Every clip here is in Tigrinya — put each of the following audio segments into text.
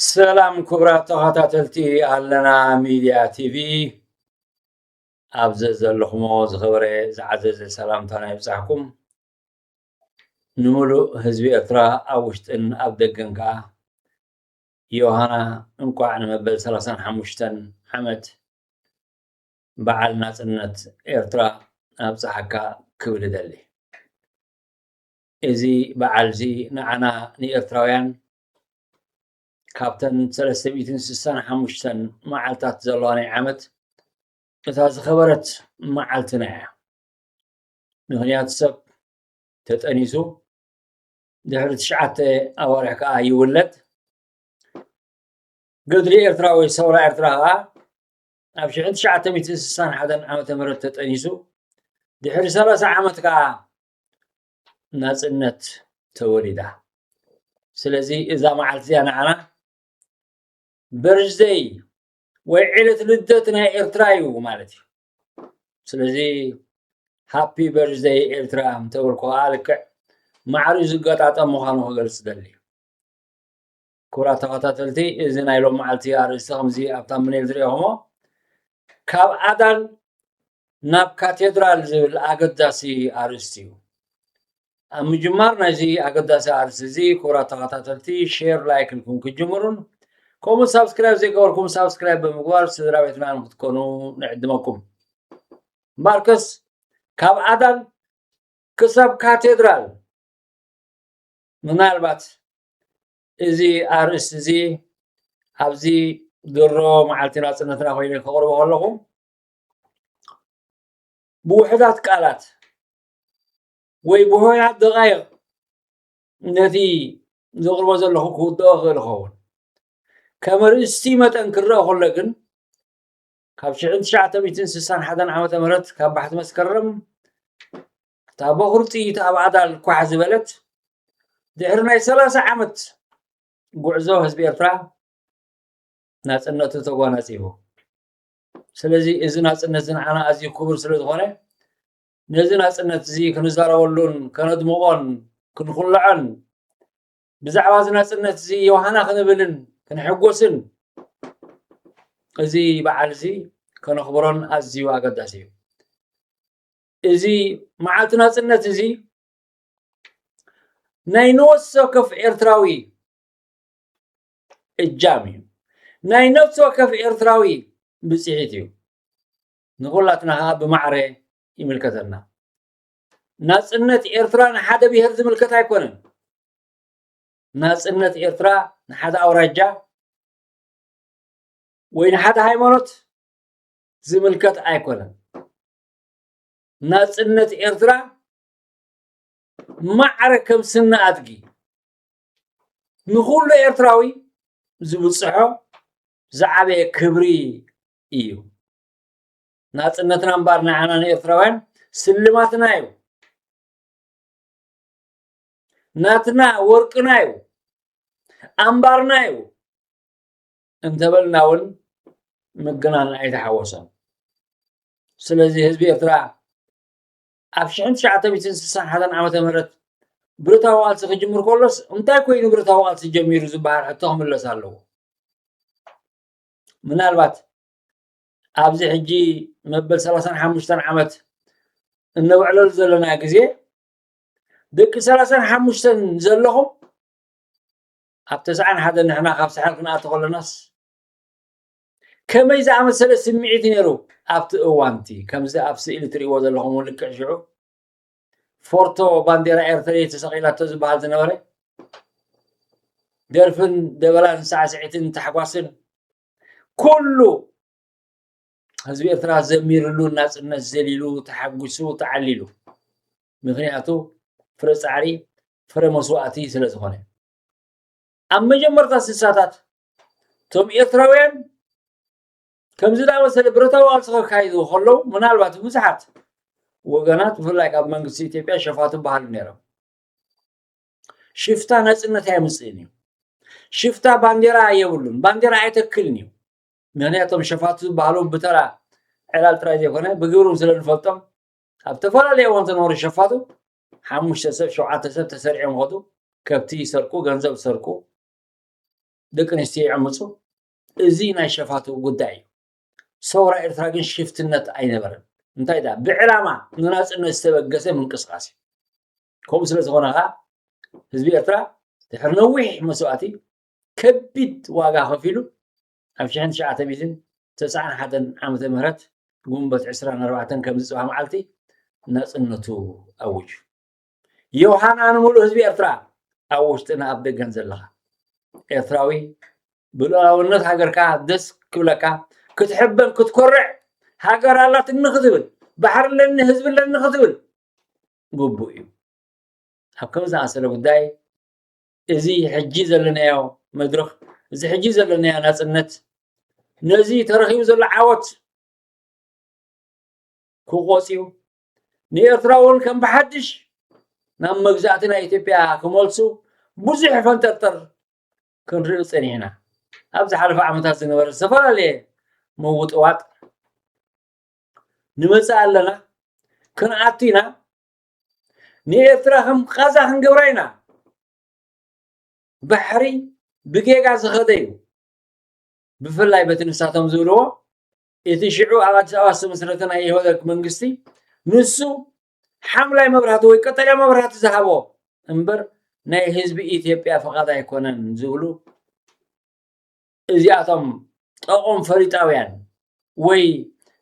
ሰላም ክቡራት ተኸታተልቲ ኣለና ሚድያ ቲቪ ኣብዚ ዘለኹሞ ዝኸበረ ዝዓዘዘ ሰላምታ ናይ ብፃሕኩም ንምሉእ ህዝቢ ኤርትራ ኣብ ውሽጥን ኣብ ደገን ከዓ ዮሃና እንኳዕ ንመበል ሰላሳን ሓሙሽተን ዓመት በዓል ናጽነት ኤርትራ ኣብጽሓካ ክብል እደሊ። እዚ በዓልዚ ንዓና ንኤርትራውያን ካብተን ሰለስተ ሚእትን ስሳን ሓሙሽተን መዓልታት ዘለዋ ናይ ዓመት እታ ዝኸበረት መዓልትና እያ። ምክንያቱ ሰብ ተጠኒሱ ድሕሪ ትሽዓተ ኣዋርሕ ከዓ ይውለድ። ገድሊ ኤርትራ ወይ ሰውራ ኤርትራ ከዓ ኣብ ሽሕን ትሽዓተ ሚእትን ስሳን ሓደን ዓመተ ምህረት ተጠኒሱ ድሕሪ ሰላሳ ዓመት ከዓ ናፅነት ተወሊዳ ስለዚ እዛ መዓልቲ እዚኣ ንዓና በርዝደይ ወይ ዕለት ልደት ናይ ኤርትራ እዩ ማለት እዩ ስለዚ ሃፒ በርዝደይ ኤርትራ እንተበልኩ ከዓ ልክዕ ማዕሪ ዝገጣጠም ምዃኑ ክገልፅ ደሊ ክቡራት ተኸታተልቲ እዚ ናይ ሎም መዓልቲ ኣርእስቲ ከምዚ ኣብ ታምኔል ዝሪኦኹሞ ካብ ኣዳል ናብ ካቴድራል ዝብል ኣገዳሲ ኣርእስቲ እዩ ኣብ ምጅማር ናይዚ ኣገዳሲ ኣርእስቲ እዚ ክቡራት ተኸታተልቲ ሼር ላይክ ኢልኩም ክጅምሩን ከምኡ ሳብስክራይብ ዘይገበርኩም ሳብስክራይብ ብምግባር ስድራ ቤትና ንክትኮኑ ንዕድመኩም ማርከስ ካብ ኣዳን ክሳብ ካቴድራል ምናልባት እዚ ኣርእስቲ እዚ ኣብዚ ድሮ መዓልቲ ናፅነትና ኮይኑ ከቕርቦ ከለኹ ብውሕዳት ቃላት ወይ ብሆያት ደቃይቕ ነቲ ዘቕርቦ ዘለኹ ክውድኦ ክእል ይኸውን ከም ርእስቲ መጠን ክረአ ከሎ ግን ካብ ሽሕን ትሽዓተ ሚእትን ስሳን ሓደን ዓመተ ምህረት ካብ ባሕቲ መስከረም እታ በዅሪ ጥይት ኣብ ኣዳል ኳሕ ዝበለት ድሕሪ ናይ ሰላሳ ዓመት ጉዕዞ ህዝቢ ኤርትራ ናጽነቱ ተጓናጺፉ ስለዚ እዚ ናጽነት ዝንዓና ኣዝዩ ክቡር ስለ ዝኾነ ነዚ ናጽነት እዚ ክንዛረበሉን ከነድምቖን ክንኹልዖን ብዛዕባ እዚ ናጽነት እዚ ዮሃና ክንብልን ክንሕጎስን እዚ በዓል እዚ ከነኽብሮን ኣዝዩ ኣገዳሲ እዩ እዚ መዓልቲ ናጽነት እዚ ናይ ንወስ ወከፍ ኤርትራዊ እጃም እዩ ናይ ነፍሲ ወከፍ ኤርትራዊ ብፅሒት እዩ ንኩላትና ከዓ ብማዕረ ይምልከተና ናፅነት ኤርትራ ንሓደ ብሄር ዝምልከት ኣይኮነን ናፅነት ኤርትራ ንሓደ ኣውራጃ ወይ ንሓደ ሃይማኖት ዝምልከት ኣይኮነን ናጽነት ኤርትራ ማዕረ ከም ስነ ኣድጊ ንኹሉ ኤርትራዊ ዝብጽሖ ዝዓበየ ክብሪ እዩ ናጽነትና እምበር ንዓና ንኤርትራውያን ስልማትና እዩ ናትና ወርቅና እዩ ኣምባርና እዩ እንተበልና እውን ምግናን ኣይተሓወሰን። ስለዚ ህዝቢ ኤርትራ ኣብ ሽሕን ትሽዓተ ሚእትን ስሳን ሓደን ዓመተ ምህረት ብረታዊ ቃልሲ ክጅምር ከሎስ እንታይ ኮይኑ ብረታዊ ቃልሲ ጀሚሩ ዝበሃል ሕቶ ክምለስ ኣለዎ ምናልባት ኣብዚ ሕጂ መበል ሰላሳን ሓሙሽተን ዓመት እነውዕለሉ ዘለና ግዜ ደቂ ሰላሳን ሓሙሽተን ዘለኹም ኣብ ተስዓን ሓደን ንሕና ካብ ሳሕል ክንኣቱ ከለናስ ከመይ ዝኣመሰለ ስምዒት እዩ ነይሩ ኣብቲ እዋንቲ ከምዚ ኣብ ስእሊ ትርእይዎ ዘለኹም ልክዕ ሽዑ ፎርቶ ባንዴራ ኤርትራ ተሰቂላቶ ዝበሃል ዝነበረ ደርፍን ደበላን ሳዕስዒትን ታሕጓስን ኩሉ ህዝቢ ኤርትራ ዘሚርሉ ናጽነት ዘሊሉ ተሓጒሱ ተዓሊሉ ምክንያቱ ፍረ ጻዕሪ ፍረ መስዋእቲ ስለ ዝኾነ ኣብ መጀመርታ ስሳታት እቶም ኤርትራውያን ከምዚ ዳመሰለ ብረታዊ ቃልሲ ከካይዱ ከለዉ ምናልባት ብዙሓት ወገናት ብፍላይ ካብ መንግስቲ ኢትዮጵያ ሸፋቱ በሃሉ ነይሮም ሽፍታ ናጽነት ኣየምፅእን እዩ ሽፍታ ባንዴራ የብሉን ባንዴራ ኣይተክልን እዩ ምኽንያቶም ሸፋቱ ዝበሃሉ ብተራ ዕላል ጥራይ ዘይኮነ ብግብርም ስለ ንፈልጦም ኣብ ተፈላለየ እዋን ዝነበሩ ሸፋቱ ሓሙሽተ ሰብ ሸውዓተ ሰብ ተሰሪዖም ይኸዱ ከብቲ ይሰርቁ ገንዘብ ይሰርቁ ደቂ ኣንስትዮ ይዕምፁ እዚ ናይ ሸፋቱ ጉዳይ እዩ ሰውራ ኤርትራ ግን ሽፍትነት ኣይነበረን እንታይ ዳ ብዕላማ ንናፅነት ዝተበገሰ ምንቅስቃስ እዩ ከምኡ ስለ ዝኾነ ከዓ ህዝቢ ኤርትራ ድሕሪ ነዊሕ መስዋእቲ ከቢድ ዋጋ ከፊሉ ኣብ ሽሕን ትሽዓተ ሚእትን ተስዓን ሓደን ዓመተ ምህረት ግንቦት ዕስራን ኣርባዕተን ከምዚ ጽባሕ መዓልቲ ናጽነቱ ኣውጁ። ዮሃና ንምሉእ ህዝቢ ኤርትራ ኣብ ውሽጥን ኣብ ደገን ዘለኻ ኤርትራዊ ብሉኣላውነት ሃገርካ ደስ ክብለካ ክትሕበን ክትኮርዕ ሃገር ኣላትኒ ክትብል ባሕሪ ኣለኒ ህዝቢ ኣለኒ ክትብል ግቡእ እዩ ኣብ ከም ዝኣሰለ ጉዳይ እዚ ሕጂ ዘለናዮ መድረኽ እዚ ሕጂ ዘለናዮ ናጽነት ነዚ ተረኺቡ ዘሎ ዓወት ክቆጽዩ ንኤርትራ እውን ከም ብሓድሽ ናብ መግዛእቲ ናይ ኢትዮጵያ ክመልሱ ብዙሕ ፈንጠርጠር ክንርኢ ጸኒሕና ኣብ ዝሓለፈ ዓመታት ዝነበረ ዝተፈላለየ ምውጥዋጥ ንመጽእ ኣለና ክንኣቱ ኢና ንኤርትራ ከም ቃዛ ክንገብራ ኢና ባሕሪ ብጌጋ ዝኸደ እዩ ብፍላይ በቲ ንሳቶም ዝብልዎ እቲ ሽዑ ኣብ ኣዲስ ኣበባ ዝተመስረተ ናይ ኢህወደግ መንግስቲ ንሱ ሓምላይ መብራህቲ ወይ ቀጠልያ መብራህቲ ዝሃቦ እምበር ናይ ህዝቢ ኢትዮጵያ ፍቓድ ኣይኮነን ዝብሉ እዚኣቶም ጠቖም ፈሪጣውያን ወይ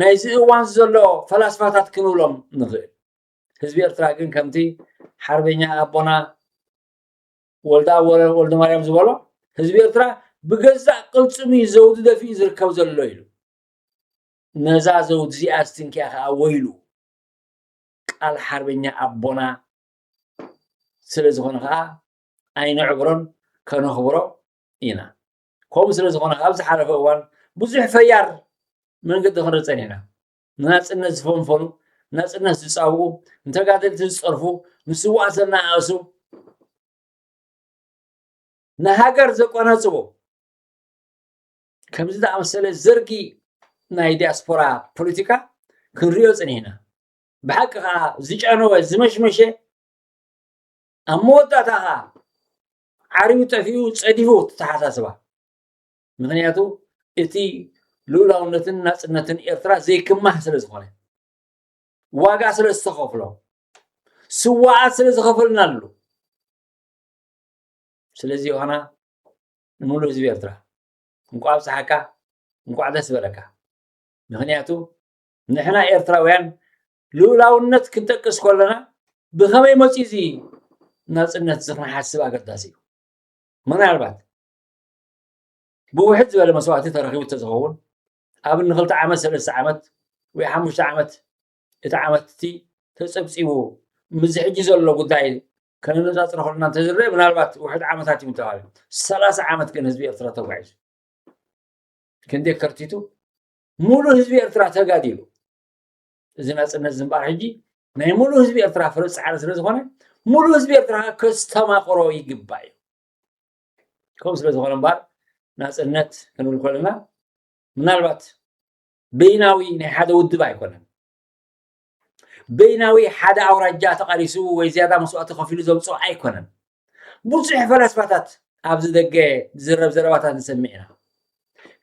ናይዚ እዋን ዘሎ ፈላስፋታት ክንብሎም ንኽእል ህዝቢ ኤርትራ ግን ከምቲ ሓርበኛ ኣቦና ወልዳ ወልደ ማርያም ዝበሎ ህዝቢ ኤርትራ ብገዛእ ቅልፅሙ እዩ ዘውዲ ደፊኡ ዝርከብ ዘሎ ኢሉ ነዛ ዘውዲ እዚኣ ስትንኪያ ከዓ ወይሉ ቃል ሓርበኛ ኣቦና ስለ ዝኾነ ከዓ ኣይንዕብሮን ከነኽብሮ ኢና ከምኡ ስለ ዝኾነ ኣብ ዝሓለፈ እዋን ብዙሕ ፈያር መንገዲ ክንርፀን ኢና ንናፅነት ዝፈንፈኑ ናፅነት ዝፃውኡ ንተጋደልቲ ዝፀርፉ ንስዋእ ዘናኣእሱ ንሃገር ዘቆናፅቡ ከምዚ ዝኣመሰለ ዘርጊ ናይ ዲያስፖራ ፖለቲካ ክንሪኦ ፅኒሕና ብሓቂ ከዓ ዝጨነወ ዝመሽመሸ ኣብ መወዳእታ ከዓ ዓርዩ ጠፊኡ ጸዲፉ ተተሓሳስባ ምክንያቱ እቲ ልኡላውነትን ናጽነትን ኤርትራ ዘይክማህ ስለ ዝኾነ ዋጋ ስለ ዝተኸፍሎ ስዋኣት ስለ ዝኸፈልናሉ ስለዚ ዮሃና ንሙሉእ ህዝቢ ኤርትራ እንቋዕ ኣብጽሓካ እንቋዕ ደስ በለካ ምክንያቱ ንሕና ኤርትራውያን ልኡላውነት ክንጠቅስ ከለና ብኸመይ መፅኡ እዚ ናፅነት እዚ ክንሓስብ ኣገዳሲ እዩ ምናልባት ብውሕድ ዝበለ መስዋእቲ ተረኪቡ ተዝኸውን ኣብ ንክልተ ዓመት ሰለስተ ዓመት ወይ ሓሙሽተ ዓመት እቲ ዓመት እቲ ተፀብፂቡ ምስዚ ሕጂ ዘሎ ጉዳይ ከነነፃፅሮ ከለና እንተዝረአ ምናልባት ውሕድ ዓመታት እዩ ተባሂሉ ሰላሳ ዓመት ግን ህዝቢ ኤርትራ ተጓዒዙ ክንደይ ከርቲቱ ሙሉእ ህዝቢ ኤርትራ ተጋዲሉ እዚ ናፅነት እዚ እምበኣር ሕጂ ናይ ሙሉእ ህዝቢ ኤርትራ ፍረ ፃዕሪ ስለ ዝኾነ ሙሉእ ህዝቢ ኤርትራ ከዓ ከስተማቕሮ ይግባእ እዩ ከምኡ ስለ ዝኾነ እምበኣር ናፅነት ክንብል ከለና ምናልባት በይናዊ ናይ ሓደ ውድብ ኣይኮነን በይናዊ ሓደ ኣውራጃ ተቓሊሱ ወይ ዝያዳ መስዋእቲ ከፊሉ ዘምፅኦ ኣይኮነን ብዙሕ ፈላስፋታት ኣብዚ ደገ ዝዝረብ ዘረባታት ንሰምዕ ኢና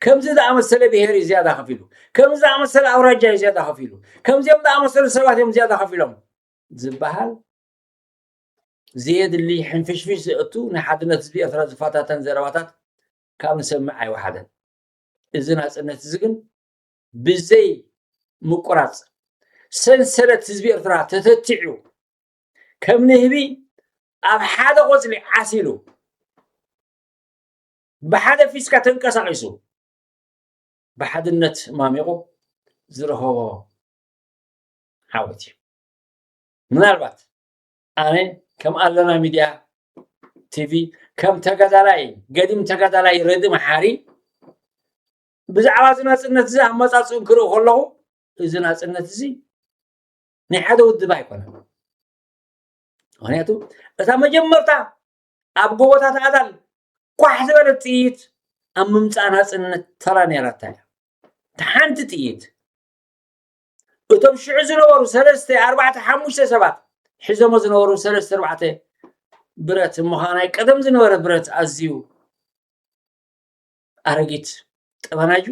ከምዚ ዝኣመሰለ ብሄር እዩ ዝያዳ ከፍ ኢሉ ከምዚ ዝኣመሰለ ኣውራጃ እዩ ዝያዳ ከፍ ኢሉ ከምዚኦም ዝኣመሰሉ ሰባት እዮም ዝያዳ ከፍ ኢሎም ዝበሃል ዘየድሊ ሕንፍሽፍሽ ዘእቱ ናይ ሓድነት ህዝቢ ኤርትራ ዝፈታተን ዘረባታት ካብ ንሰምዕ ኣይወሓደን እዚ ናፅነት እዚ ግን ብዘይ ምቁራፅ ሰንሰለት ህዝቢ ኤርትራ ተተቲዑ ከም ንህቢ ኣብ ሓደ ቆፅሊ ዓሲሉ ብሓደ ፊስካ ተንቀሳቒሱ ብሓድነት ማሚቑ ዝረኸቦ ዓወት እዩ ምናልባት ኣነ ከም ኣለና ሚድያ ቲቪ ከም ተጋዳላይ ገዲም ተጋዳላይ ረዲ መሓሪ ብዛዕባ እዚ ናፅነት እዚ ኣመፃፅኡ ክርኢ ከለኹ እዚ ናፅነት እዚ ናይ ሓደ ውድብ ኣይኮነን ምክንያቱ እታ መጀመርታ ኣብ ጎቦታት ኣዳል ኳሕ ዝበለት ጥይት ኣብ ምምፃእ ናፅነት ተራ ነይራታ እያ እቲ ሓንቲ ጥይት እቶም ሽዑ ዝነበሩ ሰለስተ ኣርባዕተ ሓሙሽተ ሰባት ሒዞሞ ዝነበሩ ሰለስተ ኣርባዕተ ብረት ምዃን ናይ ቀደም ዝነበረ ብረት ኣዝዩ ኣረጊት ጠበናዩ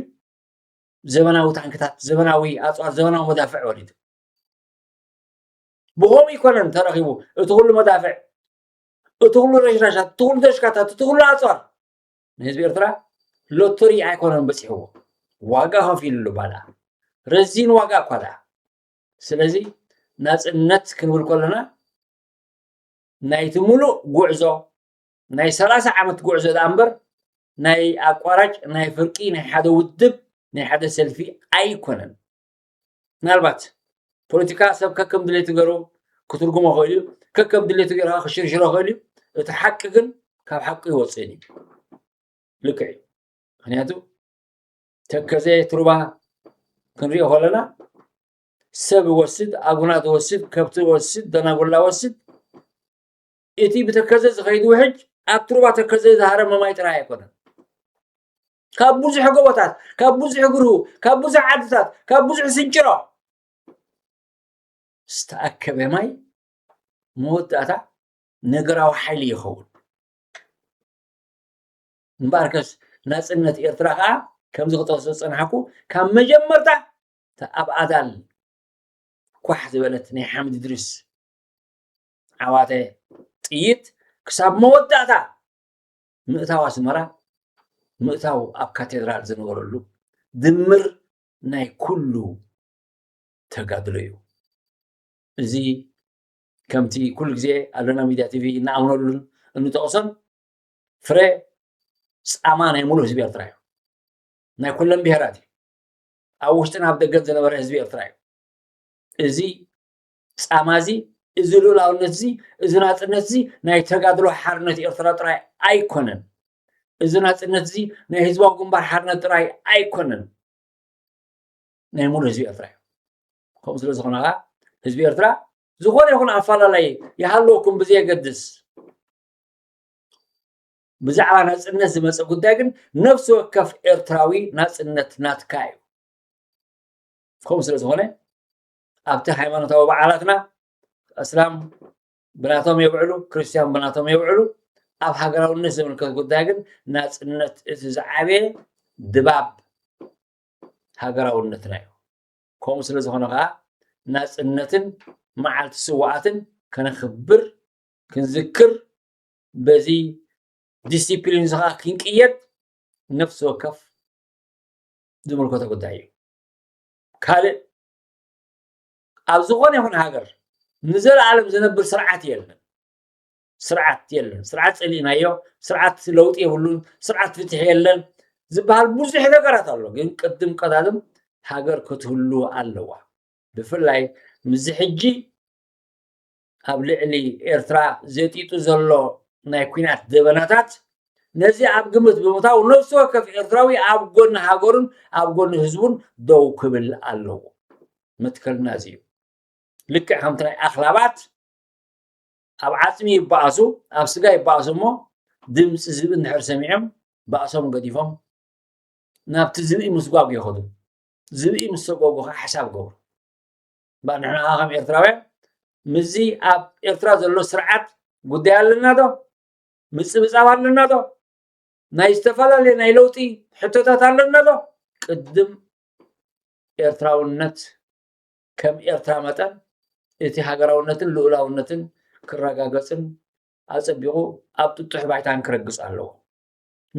ዘበናዊ ታንክታት፣ ዘበናዊ ኣፅዋር፣ ዘበናዊ መዳፍዕ ወሪዱ ብኸምኡ ይኮነን ተረኺቡ እቲ ኩሉ መዳፍዕ፣ እቲ ኩሉ ረሽራሻት፣ እቲ ኩሉ ደሽካታት፣ እቲ ኩሉ ኣፅዋር ንህዝቢ ኤርትራ ሎተሪ ኣይኮነን በፂሕዎ ዋጋ ከፊልሉ ባላ ረዚን ዋጋ እኳ ደኣ ስለዚ ናፅነት ክንብል ከለና ናይቲ ሙሉእ ጉዕዞ ናይ ሰላሳ ዓመት ጉዕዞ ደኣ እምበር ናይ ኣቋራጭ ናይ ፍርቂ ናይ ሓደ ውድብ ናይ ሓደ ሰልፊ ኣይኮነን ምናልባት ፖለቲካ ሰብ ከከም ድሌቱ ገይሩ ክትርጉሞ ክእል እዩ ከከም ድሌቱ ገይሩ ከዓ ክሽርሽሮ ክእል እዩ እቲ ሓቂ ግን ካብ ሓቂ ይወፅእን እዩ ልክዕ እዩ ምክንያቱ ተከዘ ትሩባ ክንሪኦ ከለና ሰብ ይወስድ ኣጉናት ይወስድ ከብቲ ይወስድ ደናጉላ ይወስድ እቲ ብተከዘ ዝኸይድ ውሕጅ ኣብቲ ሩባ ተከዘ ዝሃረመ ማይ ጥራይ ኣይኮነን ካብ ብዙሕ ጎቦታት ካብ ብዙሕ ግርሁ ካብ ብዙሕ ዓድታት ካብ ብዙሕ ስንጭሮ ዝተኣከበ ማይ መወዳእታ ነገራዊ ሓይሊ ይኸውን እምበኣር ከስ ናፅነት ኤርትራ ከዓ ከምዚ ክጠቅሶ ዝፀናሕኩ ካብ መጀመርታ እታ ኣብ ኣዳል ኳሕ ዝበለት ናይ ሓምድ ድሪስ ዓዋተ ጥይት ክሳብ መወዳእታ ምእታው ኣስመራ ምእታው ኣብ ካቴድራል ዝነበረሉ ድምር ናይ ኩሉ ተጋድሎ እዩ እዚ ከምቲ ኩሉ ግዜ ኣሎና ሚድያ ቲቪ እናኣምነሉን እንጠቕሶን ፍረ ፃማ ናይ ሙሉእ ህዝቢ ኤርትራ እዩ ናይ ኩለን ብሄራት እዩ ኣብ ውሽጥን ኣብ ደገን ዝነበረ ህዝቢ ኤርትራ እዩ እዚ ጻማ እዚ እዚ ልኡላውነት እዚ እዚ ናጽነት እዚ ናይ ተጋድሎ ሓርነት ኤርትራ ጥራይ ኣይኮነን እዚ ናጽነት እዚ ናይ ህዝባዊ ግንባር ሓርነት ጥራይ ኣይኮነን ናይ ሙሉ ህዝቢ ኤርትራ እዩ ከምኡ ስለ ዝኾነ ከዓ ህዝቢ ኤርትራ ዝኾነ ይኹን ኣፈላላይ ይሃለወኩም ብዘየገድስ ብዛዕባ ናጽነት ዝመፀ ጉዳይ ግን ነፍሲ ወከፍ ኤርትራዊ ናጽነት ናትካ እዩ ከምኡ ስለ ዝኾነ ኣብቲ ሃይማኖታዊ በዓላትና እስላም ብናቶም የብዕሉ ክርስትያን ብናቶም የብዕሉ ኣብ ሃገራውነት ዝምልከት ጉዳይ ግን ናፅነት እቲ ዝዓበየ ድባብ ሃገራውነትና እዩ ከምኡ ስለ ዝኾነ ከዓ ናፅነትን መዓልቲ ስዋኣትን ከነኽብር ክንዝክር በዚ ዲሲፕሊን እዚ ከዓ ክንቅየድ ነፍሲ ወከፍ ዝምልከቶ ጉዳይ እዩ ካልእ ኣብ ዝኾነ ይኹን ሃገር ንዘለኣለም ዝነብር ስርዓት የለን ስርዓት የለን ስርዓት ፀሊእናዮ ስርዓት ለውጢ የብሉን ስርዓት ፍትሒ የለን ዝበሃል ብዙሕ ነገራት ኣሎ ግን ቅድም ቀዳድም ሃገር ክትህሉ ኣለዋ ብፍላይ ምስዚ ሕጂ ኣብ ልዕሊ ኤርትራ ዘጢጡ ዘሎ ናይ ኩናት ደበናታት ነዚ ኣብ ግምት ብምታው ነፍሲ ወከፍ ኤርትራዊ ኣብ ጎኒ ሃገሩን ኣብ ጎኒ ህዝቡን ደው ክብል ኣለዎ መትከልና እዚ እዩ ልክዕ ከምቲ ናይ ኣኽላባት ኣብ ዓፅሚ ይበኣሱ ኣብ ስጋ ይበኣሱ እሞ ድምፂ ዝብኢ እንድሕር ሰሚዖም ባእሶም ገዲፎም ናብቲ ዝብኢ ምስጓጉ ይኸዱ ዝብኢ ምስ ሰጓጉ ከዓ ሓሳብ ገብሩ እባ ንሕና ኸ ከም ኤርትራውያን ምስዚ ኣብ ኤርትራ ዘሎ ስርዓት ጉዳይ ኣለና ዶ ምጽብጻብ ኣለና ዶ ናይ ዝተፈላለየ ናይ ለውጢ ሕቶታት ኣለና ዶ ቅድም ኤርትራውነት ከም ኤርትራ መጠን እቲ ሃገራውነትን ልኡላውነትን ክረጋገፅን ኣፀቢቑ ኣብ ጥጡሕ ባይታን ክረግፅ ኣለዎ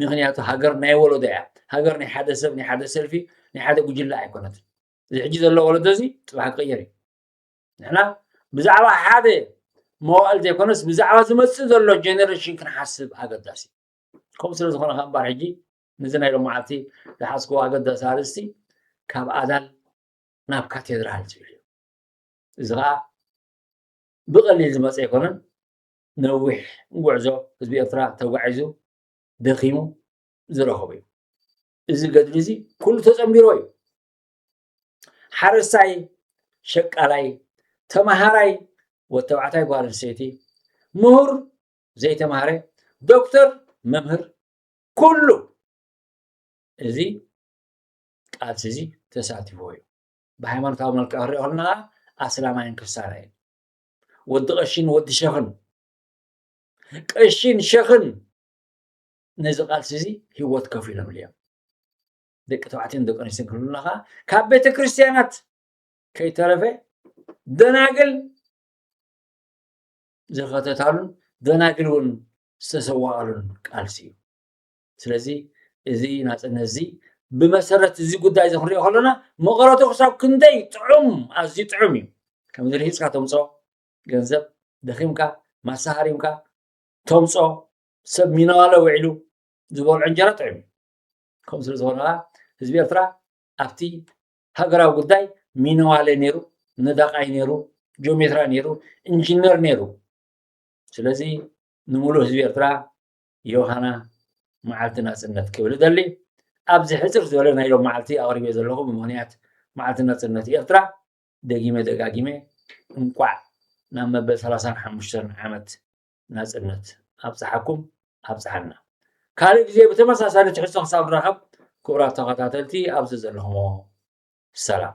ምክንያቱ ሃገር ናይ ወለዶ እያ ሃገር ናይ ሓደ ሰብ ናይ ሓደ ሰልፊ ናይ ሓደ ጉጅለ ኣይኮነትን እዚ ሕጂ ዘሎ ወለዶ እዚ ፅባሕ ክቕየር እዩ ንሕና ብዛዕባ ሓደ መዋእል ዘይኮነስ ብዛዕባ ዝመፅእ ዘሎ ጀነሬሽን ክንሓስብ ኣገዳሲ ከምኡ ስለ ዝኾነ ከ እምበር ሕጂ ነዚ ናይ ሎ መዓልቲ ዝሓዝክዎ ኣገዳሲ ኣርእስቲ ካብ ኣዳል ናብ ካቴድራል ዝብል እዩ እዚ ከዓ ብቐሊል ዝመፀ ኣይኮነን ነዊሕ ጉዕዞ ህዝቢ ኤርትራ ተጓዒዙ ደኺሙ ዝረኸቡ እዩ እዚ ገድሊ እዚ ኩሉ ተፀምቢሮ እዩ ሓረስታይ ሸቃላይ ተምሃራይ ወተባዕታይ ጓል ኣንስተይቲ ምሁር ዘይተምሃረ ዶክተር መምህር ኩሉ እዚ ቃልሲ እዚ ተሳቲፎ እዩ ብሃይማኖታዊ መልክዕ ክሪኦ ከለና ኣስላማይን ክርስትያናይን ወዲ ቀሺን ወዲ ሸኽን ቀሺን ሸኽን ነዚ ቃልሲ እዚ ህይወት ከፊሎምሉ እዮም ደቂ ተባዕትዮን ደቂ ኣንስትዮን ክብሉና ከዓ ካብ ቤተ ክርስትያናት ከይተረፈ ደናግል ዝኸተታሉን ደናግል እውን ዝተሰዋኣሉን ቃልሲ እዩ ስለዚ እዚ ናፅነት እዚ ብመሰረት እዚ ጉዳይ እዚ ክንሪኦ ከለና መቐረቱ ክሳብ ክንደይ ጥዑም ኣዝዩ ጥዑም እዩ ከምዚ ርሂፅካ ተምፅኦ ገንዘብ ደኺምካ ማሳሃሪምካ ተምፅኦ ሰብ ሚነዋለ ውዒሉ ዝበልዖ እንጀራ ጥዑም ከምኡ ስለ ዝኾነ ከዓ ህዝቢ ኤርትራ ኣብቲ ሃገራዊ ጉዳይ ሚነዋለ ነይሩ ነዳቃይ ነይሩ ጆሜትራ ነይሩ ኢንጂነር ነይሩ ስለዚ ንምሉእ ህዝቢ ኤርትራ ዮሃና መዓልቲ ናፅነት ክብል እደሊ ኣብዚ ሕፅር ዝበለ ናይ ሎም መዓልቲ ኣቕሪበ ዘለኹ ብምክንያት መዓልቲ ናፅነት ኤርትራ ደጊመ ደጋጊመ እንቋዕ ናብ መበል ሰላሳን ሓሙሽተን ዓመት ናጽነት ኣብጽሓኩም ኣብጽሓና ካልእ ግዜ ብተመሳሳሊ ትሕዝቶ ክሳብ ንራኸብ ክቡራት ተኸታተልቲ ኣብዚ ዘለኹሞ ሰላም